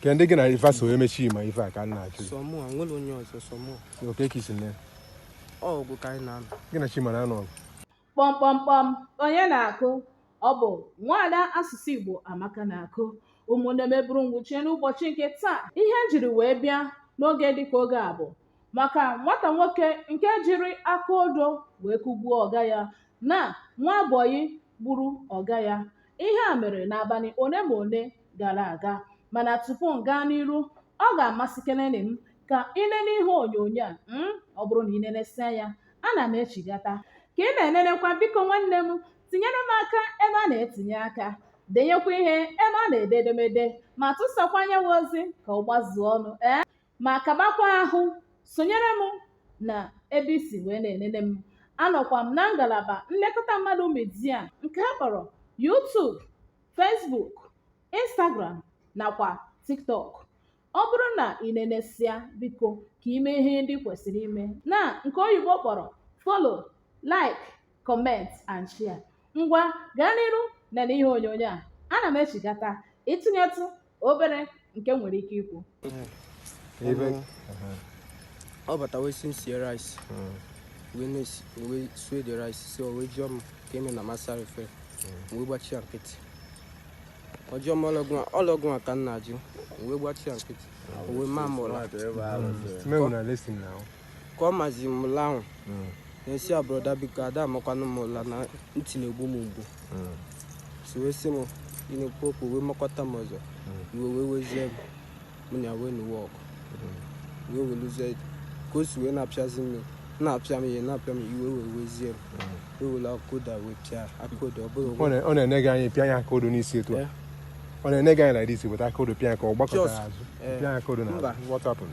ka ndị gị na ife so eme chima ife a ka m na-ajụ sọ mụ a nwere onye ọzọ sọ mụ oke ka isi nne ọ ọgụ ka anyị na-anụ gị na chima na-anụ ọgụ kpọmkpọmkpọm onye na-akụ ọ bụ nwaada asụsụ igbo amaka na-akụ ụmụnne m eburu ngwuchie n'ụbọchị nke taa ihe m jiri wee bịa n'oge dịka oge a bụ maka nwata nwoke nke jiri aka odo wee kụgbuo ọga ya na nwa bọyị gburu ọga ya ihe a mere n'abalị ole ma ole gara aga mana tupu m gaa n'iru ọ ga-amasịkeleni m ka ị nene ihe onyonyo a mm, ọ bụrụ na ị nenesịa ya ana m echigata ka ị na-enenekwa biko nwanne m tinyere m aka ebe a na-etinye aka denyekwa ihe ebe a na-ede edemede ma tụsakwa nya wụ ozi ka ọ gbazuo ọnụ ee ma kabakwa ahụ sonyere m na ebe i si wee na-enene m anọkwa m na ngalaba nlekọta mmadụ media nke a kpọrọ YouTube Facebook Instagram nakwa TikTok ọ bụrụ na ị nenesịa biko ka i mee ihe ndị kwesịrị ime na nke oyibo kpọrọ follow like comment and share ngwa gaa n'iru nene ihe onyonyo a ana m echigata ịtụnyetụ obere nke m nwere ike ikwu ọ bata wee sị m sie rice wee sie the rice so o wee jụọ m ka eme na m asarọ efere wee gbachi ya nkịtị ọ jụọ m ọ rọ gịwa ka m na-ajụ wee gbachi ya nkịtị wee maa m ụla ka ọ mazi m ụla ahụ na-asị ya brọda biko a da amakwanụ m ụla na ntị na-egbu m mgbu so wee sị m ị na-ekwu okwu wee makọta m ọzọ iwe wee wezie m mụ na ya wee nụwa ọgụ wee weluzie ka o si wee na-apịazi m na-apịa m ihe na-apịa m iwe wee wezie m wee were aka odo wee pịa aka odo ọ bụrụ Ọ na- ọ na-ene gị anya pịa ya aka odo n'isi etu a Yeah. ọ na-ene gị anya like dis weta aka odo pịa ya ka ọ gbakọtara Just, azụ eh, pịa ya aka odo na mba. what happened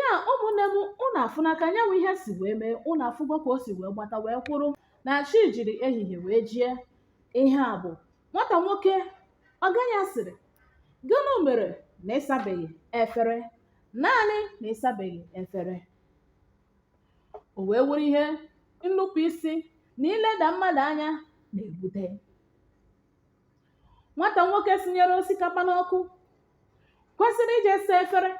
ya ụmụnne m ụnụ afụna ka nya wụ ihe si wee mee ụnụ afụgo ka o si wee gbata wee kwụrụ na chi jiri ehihie wee jie ihe a bụ nwata nwoke ọga ya sịrị gịnị mere na ị sabeghị efere naanị na ị sabeghị efere o wee wụrụ ihe nnupụ isi na ileda mmadụ anya na-ebute nwata nwoke sinyere osikapa n'ọkụ kwesịrị ije saa efere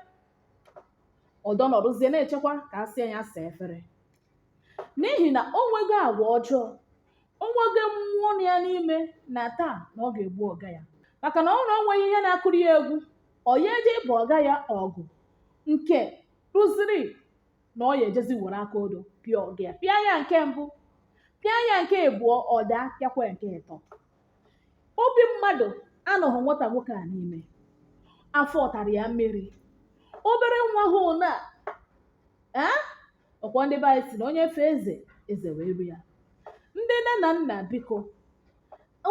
ọ dọnọrụzie na-echekwa ka a sị ya saa efere n'ihi na o nwego agwa ọjọọ o nwego mmụọ nọ ya n'ime na taa na ọ ga-egbu ọga ya maka na ọ wụrụ na o nweghị ihe na-akụrụ ya egwu ọ ya-eje ibu ọga ya ọgụ nke ruziri na ọ ya ejezi were aka odo pịa ọga ya pịa ya nke mbụ pịa ya nke abụọ ọ daa pịakwa ya nke ịtọ obi mmadụ anọghị nwata nwoke a n'ime afọ tara ya mmiri obere nwa ahụ na ee ọ kwa ndị be anyị si na onye fee eze eze wee ru ya ndị nne na nna biko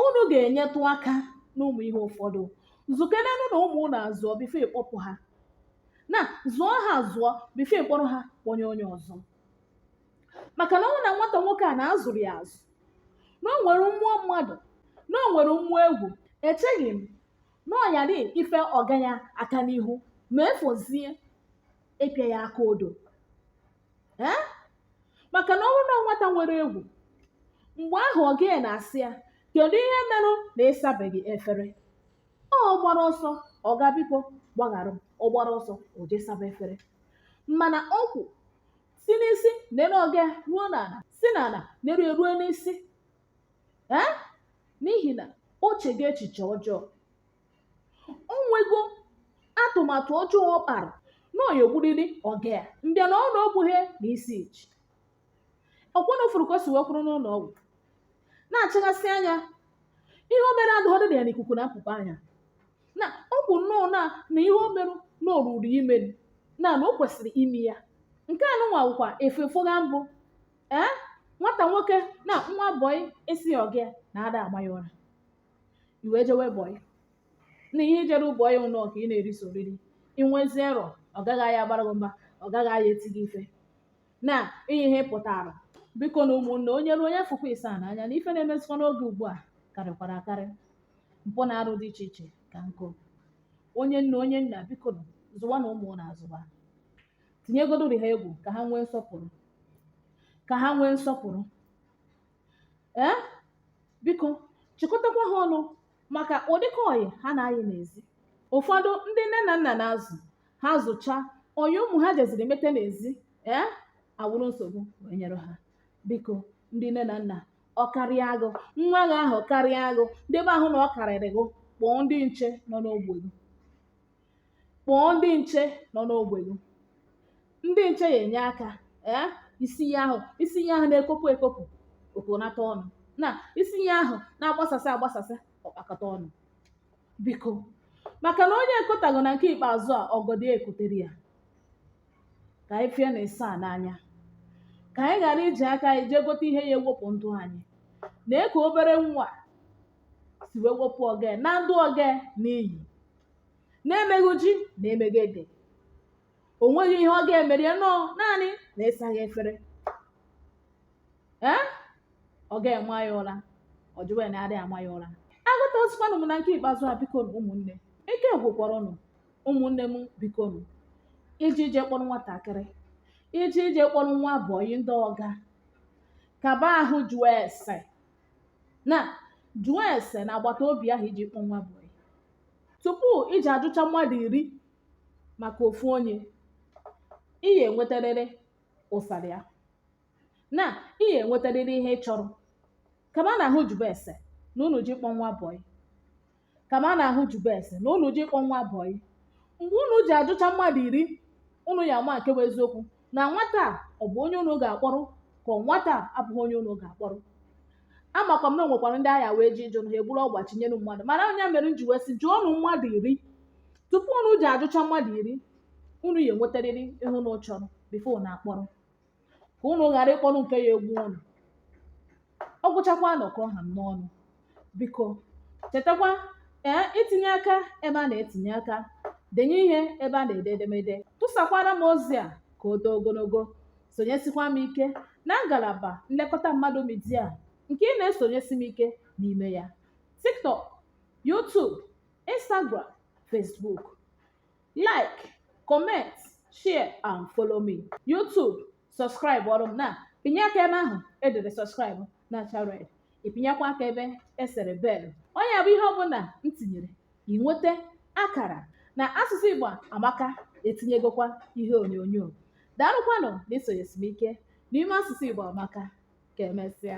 unu ga-enyetụ aka n'ụmụ ihe ụfọdụ zụkenenụ na ụmụ unu azụọ bifo ị kpọpụ ha na zụọ ha azụọ bifo ị kpọrọ ha kpọnye onye ọzọ maka na ọ bụrụ na nwata nwoke a na a zụrụ ya azụ na o nwere mmụọ mmadụ na o nwere mmụọ egwu echeghị m na ọ yara ife ọga ya aka n'ihu ma ya fọzie ịpịa ya aka odo ee maka na ọ bụrụ na nwata nwere egwu mgbe ahụ ọga ya na-asị ya kedu ihe merụ na ịsabeghị efere ọ gbara ọsọ ọga biko gbaghara m ọ gbara ọsọ o jee saba efere mana ọ kwụ si n'isi nere ọga ya ruo n'ala si n'ala nere ya ruo n'isi ee n'ihi na o chego echiche ọjọọ o nwego atụmatụ ọjọọ ọ kpara na ọ ya egburịrị ọga ya mbịa na ọ na o gbughị ya na isi echi ọ kwa unu fụrụ ka o si wee kwụrụ n'ụlọ ọgwụ na-achịghasị anya ihe o mere adịghọdụ dị ya n'ikuku na-apụpụ anya na ọ wụ nnọọ na na ihe o merụ na o ruru ime na na o kwesịrị ime ya nke a nụnwa wụkwa ife fụga mbụ ee nwata nwoke na nwa bọyị asị ọga ya na a da ama ya ụra i wee jewe bọị na ihe i jere bọị wụ nnọọ ka ị na-eri sọ oriri i nwezirọ ọga gị ya abara gị mba ọga gị ya eti gị ife na ihe ihe pụtara biko nụ ụmụnne onye ruo onye fụkwa ịsa n'anya na ife na-emezikwa n'oge ugbu a karịkwara akarị mpụ na arụ dị iche iche ka nkụ onye nna onye nna biko nụ, zụwanụ ụmụ unu azụwa tinyegodori ha egwu ka ha nwee nsọpụrụ ka ha nwee nsọpụrụ ee biko chịkọtakwa ha ọnụ maka ụdịka ọyị ha na-ayị n'ezi ụfọdụ ndị nne na nna na-azụ ha zụcha ọyị ụmụ ha jeziri mete n'ezi ee awụrụ nsogbu wee nyere ha biko ndị nne na nna ọ karịa gị nwa gị ahụ karịa gị n'ebe ahụ na ọ karịrị gị kpọọ ndị nche nọ n'ogbe gị kpọọ ndị nche nọ n'ogbe gị ndị nche ya enye aka ee isi ya ahụ isi ya ahụ na-ekopụ ekopụ o konata ọnụ na isi ya ahụ na-agbasasị agbasasị ọ kpakọta ọnụ biko maka na onye ekotaghị na nke ikpeazụ a ọgọdọ ya ekotere ya ka anyị fie na ịsa n'anya ka anyị ghara iji aka anyị jee gote ihe ya ewepụ ndụ anyị nee ka obere nwa si wee wepụ ọga ya naa ndụ ọga ya n'iyi na-emeghị ji na emeghị ede o nweghị ihe ọ ga-emeri ya nọ naanị na ịsaghị efere ee ọ ga-ama ya ụra ọ jụwa ya na adịghị ama ya ụra agụta osikwanụ m na nke ikpeazụ a bikonụ ụmụnne ike gwụkwara unu ụmụnne m bikonụ iji ije kpọrọ nwatakịrị iji ije kpọrọ nwa bọyị ndị ọga kaba ahụ jụọ ese na jụọ ese na agbata obi ahụ iji kpọọ nwa bọyị tupu ị ji ajụcha mmadụ iri maka ofu onye ị ya enwetarịrị ụsara ya na ị ya enwetarịrị ihe ị chọrọ kama na ahụ jụbe ese na unu ji kpọ nwa bọyị kama na ahụ jụbe ese na unu ji kpọ nwa bọyị mgbe unu ji ajụcha mmadụ iri unu ya ama nke bụ eziokwu na nwata a ọ bụ onye unu ga-akpọrọ ka ọ nwata a abụghị onye unu ga-akpọrọ amakwa m na o nwekwara ndị a ga-eje ịjụ na ha egburu ọgba chinyere mmadụ mana ọ ya mere m ji wee sị jụọnụ mmadụ iri tupu unu ji ajụcha mmadụ iri unu ya enwetarịrị ihe unu chọrọ before unu akpọrọ ka unu ghara ịkpọrọ nke ya egbu unu ọ gwụchakwanụ ka ọ ha m n'ọnụ biko chetakwa ee itinye aka ebe a na-etinye aka denye ihe ebe a na-ede edemede tụsakwara m ozi a ka o too ogologo sonyesikwa m ike na ngalaba nlekọta mmadụ media nke ị na-esonyesi m ike n'ime ya tiktok youtube instagram facebook like comment share and follow me youtube subscribe ọrọ m na ịpịnye aka ebe ahụ edere subscribe na-acha red ị pịnyekwa aka ebe esere bell ọ ya bụ ihe ọbụla m tinyere ị nweta akara na asụsụ igbo amaka etinyegokwa ihe onyonyo daalụkwanụ na isonyesi m ike n'ime asụsụ igbo amaka ka emesịa